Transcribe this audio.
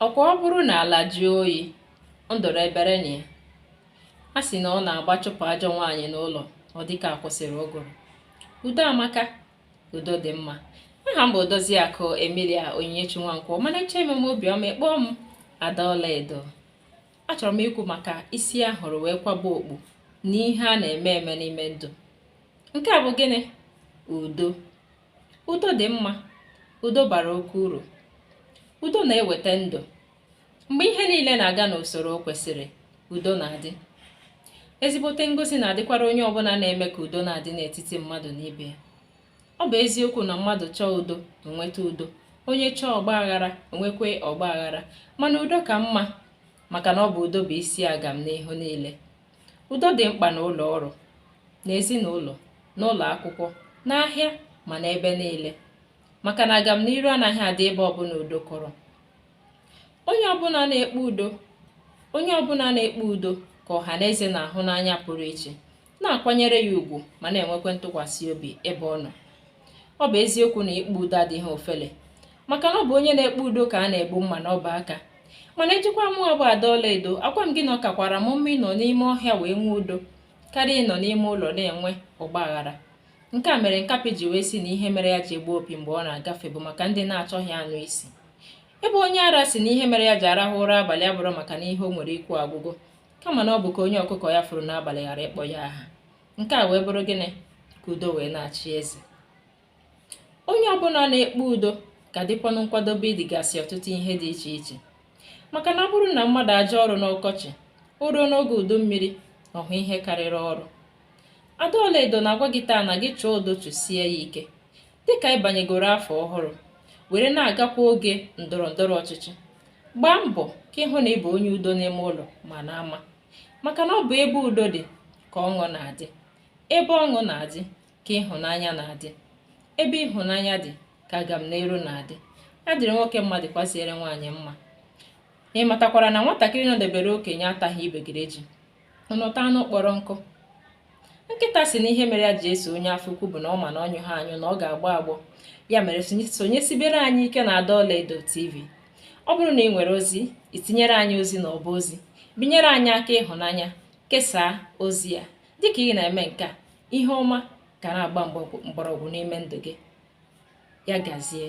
ọkwa ọ bụrụ na ala jụọ oyi nduru ebere na ya a sị na ọ na-abụ a chụpụ ajọ nwaanyị n'ụlọ ọ dịka a kwụsịrị ụgụrụ udo amaka udo dị mma aha m bụ Odoziakụ Emilia Onyinyechi Nwankwo mana ị chọọ ime m obiọma ị kpọọ m ada ọlaedo achọrọ m ikwu maka isi a hụrụ wee kwaba okpu na ihe a na-eme eme n'ime ndụ nke a bụ gịnị udo udo dị mma udo bara oke uru udo na-eweta ndụ mgbe ihe niile na-aga n'usoro o kwesịrị udo na-adị ezigbote ngọzi na-adịkwara onye ọbụla na-eme ka udo na-adị n'etiti mmadụ na ibe ya ọ bụ eziokwu na mmadụ chọọ udo enweta udo onye chọọ ọgba aghara enwekwe ọgba aghara mana udo ka mma maka na ọ bụ udo bụ isi agamnihu niile udo dị mkpa n'ụlọ ọrụ n'ezinụlọ n'ụlọ akwụkwọ n'ahịa ma n'ebe niile maka na agamniru anaghị adị ebe ọbụla udo kọrọ onye ọbụla na-ekpe udo ka ọha na eze na-ahụ n'anya pụrụ iche na-akwanyere ya ugwu ma na-enwekwa ntụkwasị obi ebe ọ nọ ọ bụ eziokwu na ikpe udo adịghị ofele maka na ọ bụ onye na-ekpe udo ka a na-egbu mma n'ọba aka mana ị jụkwa mụwa bụ ada ọlaedo agwa m gị na ọ kakwara m mma ịnọ n'ime ọhịa wee nwee udo karịa ịnọ n'ime ụlọ na-enwe ọgba aghara nke a mere nkapị ji wee si na ihe mere ya ji egbu opi mgbe ọ na-agafe bụ maka ndị na-achọghị anụ isi ebe onye ara si na ihe mere ya ji arahụ ụra abalị abụrọ maka na ihe o nwere ikwu agwụgo kama na ọ bụ ka onye ọkụkọ ya furu n'abalị ghara ịkpọ ya aha nke a wee bụrụ gịnị ka udo wee na-achị eze onye ọbụla na-ekpe udo ga-adịkwanụ nkwadobe idigasị ọtụtụ ihe dị iche iche maka na ọ bụrụ na mmadụ ajụ ọrụ n'ọkọchị o ruo n'oge udu mmiri ọ hụ ihe karịrị ọrụ ada ọlaedo na-agwa gị taa na gị chọọ udo chụsie ya ike dịka anyị banyegoro afọ ọhụrụ were na-agakwu oge ndọrọ ndọrọ ọchịchị gbaa mbọ ka ị hụ na ị bụ onye udo n'ime ụlọ ma n'ama maka na ọ bụ ebe udo dị ka ọṅụ na-adị ebe ọṅụ na-adị ka ịhụnanya na-adị ebe ịhụnanya dị ka agamniru na-adị ya dịrị nwoke mma dịkwaziere nwaanyị mma ị matakwara na nwatakịrị nọdebere okenye ataghị iberibe ji o nweta anụ kpọrọ nkụ nkịta si na ihe mere ya ji eso onye afọ ukwu bụ na ọ ma na ọ nyụghị anyụ na ọ ga-agbọ agbọ ya mere sonyesibere anyị ike na ada ọlaedo tv ọ bụrụ na ị nwere ozi i tinyere anyị ozi na ọba ozi binyere anyị aka ịhụnanya kesaa ozi a dịka ị na-eme nke a ihe ọma ga na-agba mgbọrọgwụ n'ime ndụ gị ya gazie